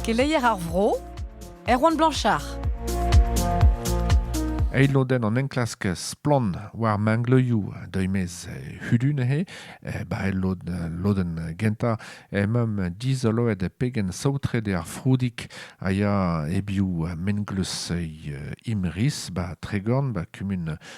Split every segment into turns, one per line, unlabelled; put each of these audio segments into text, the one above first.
Keleier ar vro, Erwan Blanchard. Eil lodenn an enklask Splann war mangleioù deuimez hudun he, eh, ba el lodenn gentañ emam dizoloet pegen saotret ar froudik a ya ebioù menglus imris ba Tregorn ba kumun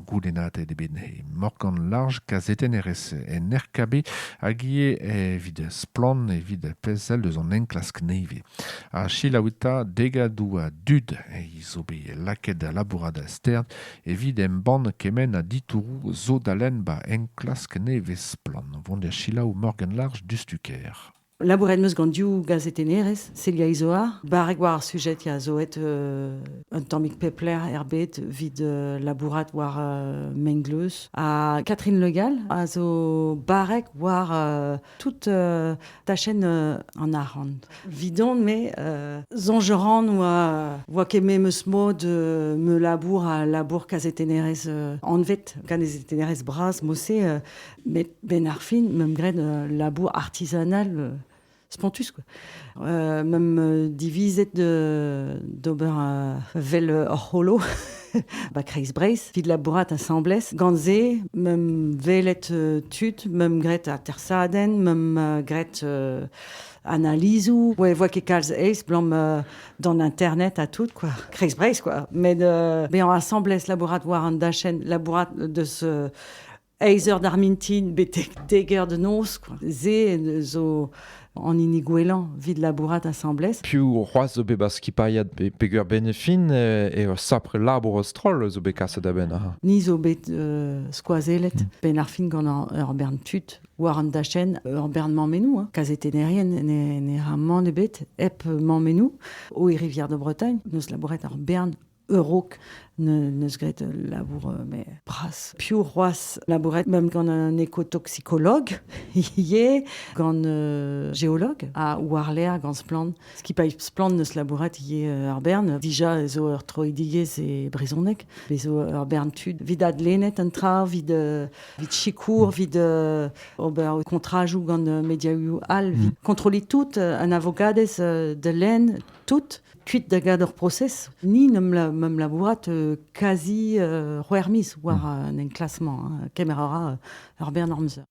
Goulennadet eo bet he morgan larj kazetennerez en RKB hag ivez evit Splann! evit pezh all eus an enklask nevez. Ha selaouit 'ta degadoù a dud zo bet lakaet da labourat start evit embann kement a ditouroù zo da lenn 'ba enklask nevez Splann! 'vont da selaou Morgan Larj diouzh tu kêr. Labouret 'm eus gant div gazetennerez, Celia Izoar, barrek war ar sujed ya, zo aet euh, un tammig pep lec'h er bed evit euh, labourat war euh, Mengleuz. Ha Catherine Legal a zo barrek war euh, toute euh, ta chaîne euh, en arrant. Vidon, mais euh, zongeran oa, oa keme meus mod euh, me labour a labour kazetennerez euh, anvet, kazetennerez bras, mose euh, Met benn ar fin, meump graet un labour artisanal euh, spontus. Quoi. Euh, meump euh, divizet d'ober un vel ur c'holo ba Kreis-Breizh, vit labourat asambles. Gant-se, meump velet tud, meump graet atersaden, meump graet analizoù, ouais, voit que calz aes, blam euh, dans internet à tout, quoi. Kreis Breizh, quoi. Mais de, euh, ben, ensemble, labourat war an dachen, labourat de ce eizh eur d'ar mintin betek dek eur da noz kwa. Se zo an hini gwellañ evit labourat asambles. Piv c'hoazh zo bet 'ba skipailhad peger benefin eh, eo sapre labour a-stroll zo bet kaset a-benn aha? Ni zo bet euh, skoazellet benn ar fin gant ur bern tud war an dachenn ur bern mammennoù. Hein. Kazetennerien ne, ne ra mann ebet hep mammennoù. O e rivière de Bretagne, nous labouret ur bern a-raok neus graet ul labour mais bras. Piv c'hoazh labouret même gant un écotoxicologue ivez, gant euh, géologue à Warler gant Splann. Ce qui paye Splann neus labouret ivez ar bern. Déjà zo ur troidigezh e brezhoneg. Bezo ur bern tud. Vid adlennet an tra, vid, euh, vid sikour, vid euh, ober kontrajoù gant mediaoù all. Vid kontrolliñ tout, un avogadez de laine, tout. kuit da gad ur prosez, ni n'em am labourat euh, quasi euh, c'hwec'h miz war hmm. un enklasement. Hein. Kemer a ra ur bern amzer.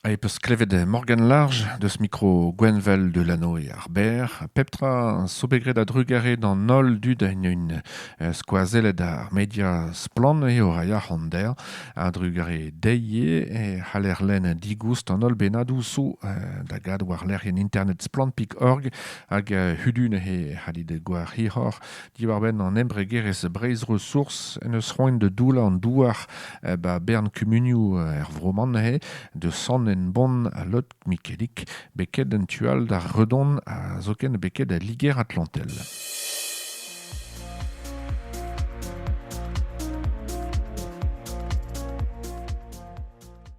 Et peus klevet Morgan Large, deus micro Gwenvel Delano et Arbert, pep tra sobegret a drugare d'an holl dud a une euh, skoazellet ar media splan e o rai ar a drugare deie e c'haller len digoust an holl benadou sou euh, da gad war lec'h en internet splan.org hag hudu neuze e c'hallit gober hiroc'h diwar-benn an embregerezh Breizh-Ressources en deus roet da doullañ an douar ba bern kumunioù er vro-man neuze da Sant-Henbont ha Lot-Mikelik beket en tu all d'ar Redon ha zoken beket da Liger-Atlantel.